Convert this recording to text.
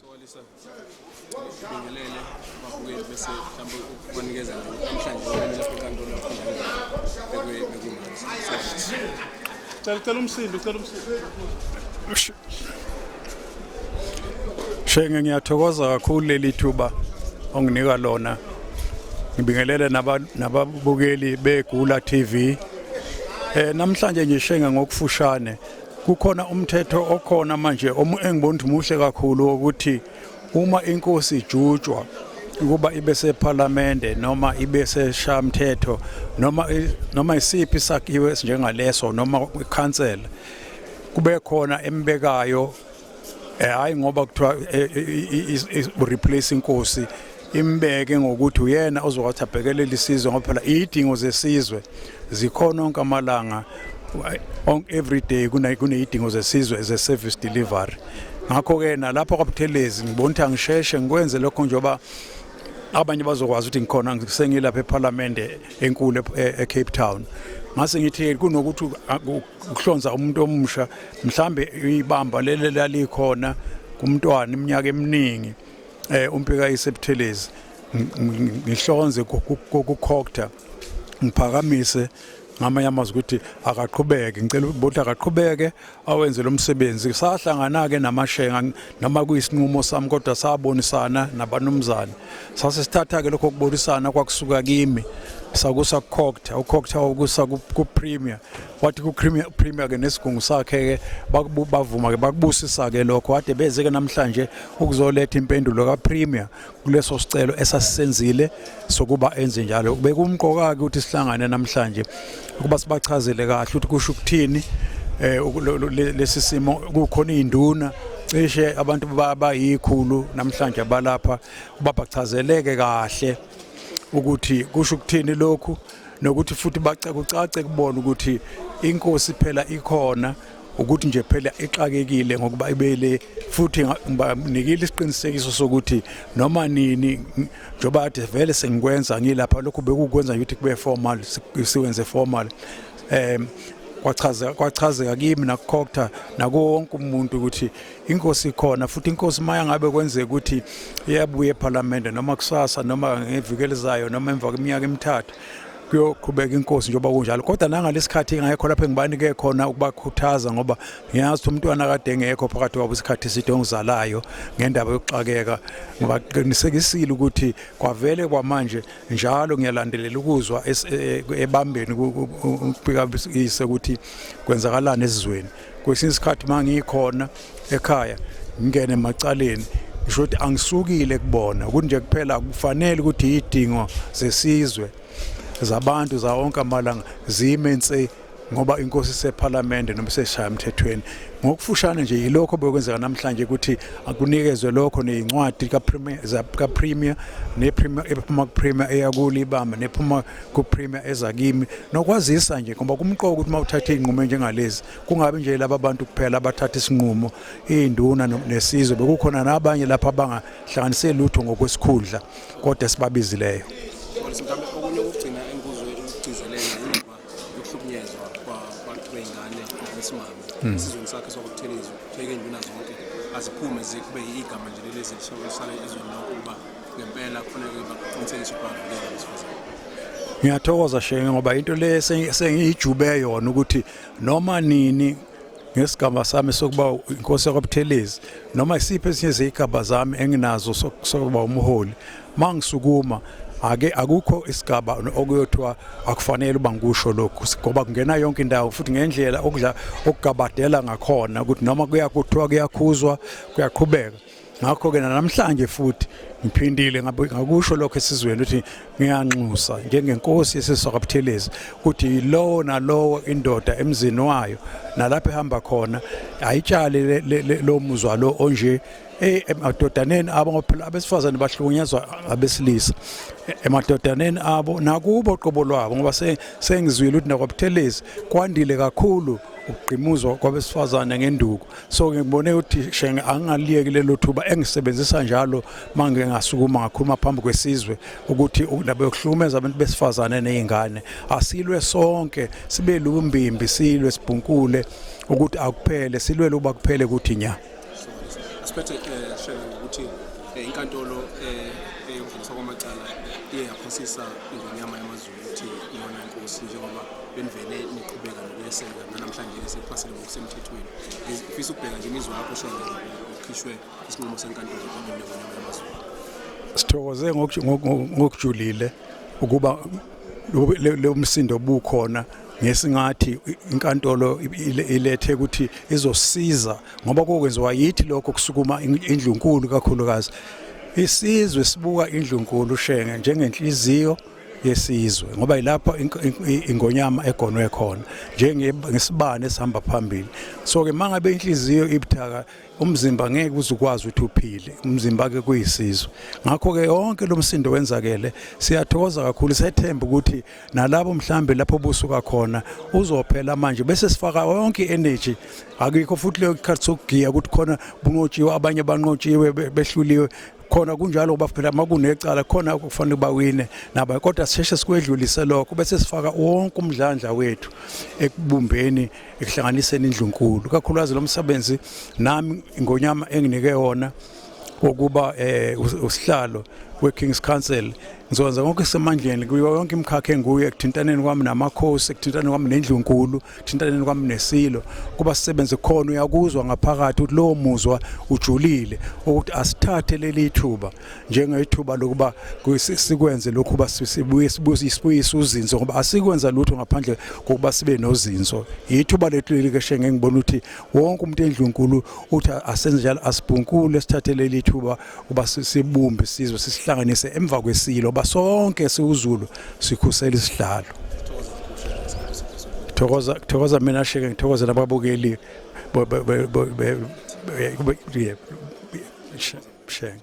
Sokalisa bingelele babuye bese mhlawumbe ukubanikeza namhlanje wena lapho kanti olafuna bekumanzi. Cela cela umsindo, cela umsindo. Shenge ngiyathokoza kakhulu leli thuba onginika lona. Ngibingelele nababukeli beGula TV. Eh namhlanje nje Shenge ngokufushane kukhona umthetho okhona manje engibona ukuthi muhle kakhulu ukuthi uma inkosi ijutshwa ukuba ibe sephalamende noma ibe seshamthetho noma noma isiphi isakhiwo esinjengaleso noma ikhansela kube khona embekayo Eh hayi ngoba kuthiwa eh, eh, eh, replace inkosi imbeke ngokuthi uyena ozowathi abhekelele isizwe ngoba phela idingo zesizwe zikhona onke amalanga on every day kuneyidingo zesizwe ze service delivery ngakho ke nalapha kwaButhelezi ngibona ukuthi angisheshe ngikwenze lokho njengoba abanye bazokwazi ukuthi ngikhona ngisengilapha eParliament enkulu eCape Town ngase ngithi kunokuthi ukuhlonza umuntu omusha mhlambe ibamba leli lalikhona kumntwana iminyaka eminingi eh umpika isebuthelezi ngihlonze kokukhokta ngiphakamise ngamanye amazwi ukuthi akaqhubeke ngicela ukuthi akaqhubeke awenze lo msebenzi sahlangana-ke namashenga noma kuyisinqumo sami kodwa sabonisana nabanumzane sase sithatha-ke lokho kubonisana kwakusuka kimi sakusa kukhokta ukhokta wakusa kupremier wathi ku-premier premier ke nesigungu sakhe ke bavuma ke bakubusisa ke lokho wade beze ke namhlanje ukuzoletha impendulo ka-premier kuleso sicelo esasisenzile sokuba enze njalo bekumqoka-ke ukuthi sihlangane namhlanje ukuba sibachazele kahle ukuthi kusho ukuthini um lesi simo kukhona iy'nduna cishe abantu bayikhulu namhlanje abalapha babachazeleke kahle ukuthi kusho ukuthini lokhu nokuthi futhi bacakucace kubona ukuthi inkosi phela ikhona ukuthi nje phela ixakekile ngokuba ibele futhi ngibanikile isiqinisekiso sokuthi noma nini njoba ade vele sengikwenza ngilapha lokhu bekukwenza ukuthi kube formal siwenze formal em kwachazeka kwachazeka kimi nakukhokutha nakuwonke umuntu ukuthi inkosi ikhona futhi inkosi maya ngabe kwenzeka ukuthi iyabuya ephalamende noma kusasa noma ngevikeli zayo noma emva kweminyaka emithathu kuyoqhubeka inkosi njengoba kunjalo kodwa nangalesikhathi ingekho lapho engibanike khona ukubakhuthaza ngoba ngiyazi ukuthi umntwana kade engekho phakathi kwabo isikhathi eside ongizalayo ngendaba yokuxakeka ngibaqinisekisile ukuthi kwavele kwamanje njalo ngiyalandelela ukuzwa e, e, ebambeni ukubika ise ukuthi kwenzakalani esizweni kwesinye isikhathi uma ngikhona ekhaya ngingene emacaleni ngisho ukuthi angisukile kubona kunje kuphela kufanele ukuthi yidingo zesizwe zabantu za wonke amalanga zime nse ngoba inkosi sephalamende noma seshaya emthethweni ngokufushane nje yilokho bekwenzeka namhlanje ukuthi akunikezwe lokho nezincwadi ka premier za ka premier ne premier ephuma ku premier eyakuli ibamba nephuma kuPremier eza kimi nokwazisa nje ngoba kumqoka ukuthi uma uthatha izinqumo njengalezi kungabe nje laba bantu kuphela abathatha isinqumo induna nesizwe bekukhona nabanye lapha abangahlanganise lutho ngokwesikhundla kodwa sibabizileyo esizweni sakhe sokuthelezwa hleke induna zonke aziphume zikube igama nje lelezi lisale ezweni lonke ukuba ngempela kufanele bakuqinisekise ukuba ngeke besifazane ngiyathokoza shenge ngoba into le sengiyijube yona ukuthi noma nini ngesigaba sami sokuba inkosi yakwabuthelezi noma isiphi esinye zeyigaba zami enginazo sokuba umholi mangisukuma ake akukho isigaba okuyothiwa akufanele uba ngikusho lokhu ngoba kungena yonke indawo futhi ngendlela okudla okugabadela ngakhona ukuthi noma kuyakuthiwa kuyakhuzwa kuyaqhubeka ngakho-ke nanamhlanje futhi ngiphindile ngakusho lokho esizweni ukuthi ngiyanxusa njengenkosi yesiswakabuthelezi ukuthi lowo nalowo indoda emzini wayo nalapho ehamba khona ayitshale lo muzwa lo onje eh, emadodaneni abo ngoba abesifazane bahlukunyezwa abesilisa emadodaneni abo nakubo qobo lwabo ngoba sengizwile ukuthi nakwabuthelezi kwandile kakhulu ukugqimuzwa kwabesifazane ngenduku so ngibone ukuthi shenge angaliyeki lelo thuba engisebenzisa njalo manje ngasukuma ngakhuluma phambi kwesizwe ukuthi indaba yokuhlukumeza abantu besifazane nezingane asilwe sonke sibe lumbimbi silwe sibhunkule ukuthi akuphele silwele uba kuphele ukuthi nya asiphethe eh, shenge ukuthi eh, inkantolo eh, eyokudluliswa kwamacala iye yaphosisa ingonyama yamazulu ukuthi iyona inkosi njengoba benivele niqhubeka nokweseka nanamhlanje ke sekuphasile ngokusemthethweni ngifisa ukubheka nje imizwa yakho usho ukhishwe isinqumo senkantolo ebaluleko yamazulu sithokoze ngokujulile ukuba lo msindo obukhona ngesingathi inkantolo ilethe ukuthi izosiza ngoba kokwenziwa yithi lokho kusukuma indlunkulu kakhulukazi isizwe sibuka indlunkulu shenge njengenhliziyo yesizwe ngoba yilapho ingonyama egonwe khona njengesibani esihamba phambili so ke mangabe inhliziyo ibuthaka umzimba ngeke uzukwazi ukuthi uphile umzimba ke kuyisizwe ngakho ke yonke lomsindo wenzakele siyathokoza kakhulu sethemba ukuthi nalabo mhlambe lapho busuka khona uzophela manje bese sifaka yonke energy akikho futhi leyo ikhathi sokugiya ukuthi khona bunqotshiwe abanye banqotshiwe behluliwe khona kunjalo ngoba phela uma kunecala khona okufanele bawine naba kodwa sisheshe sikwedlulise lokho bese sifaka wonke umdlandla wethu ekubumbeni ekuhlanganiseni indlunkulu kakhulukazi lo msebenzi nami ngonyama enginike wona wokuba eh usihlalo weKings Council Ngizokwenza konke isemandleni kuyo yonke imikhakha enguyo ekuthintaneni kwami namakhosi ekuthintaneni kwami nendlunkulu ekuthintaneni kwami nesilo kuba sisebenze khona uyakuzwa ngaphakathi ukuthi lowo muzwa ujulile ukuthi asithathe leli thuba njengethuba lokuba sikwenze lokhu ba sibuye sibuyise uzinzo ngoba asikwenza lutho ngaphandle kokuba sibe nozinzo yithuba lethu leli keshe ngengibona ukuthi wonke umuntu endlunkulu uthi asenze njalo asibhunkule sithathe leli thuba uba sibumbe isizwe sisihlanganise emva kwesilo basonke siwuZulu sikhusela isihlalo thokoza thokoza mina sheke ngithokoze nababukeli shenge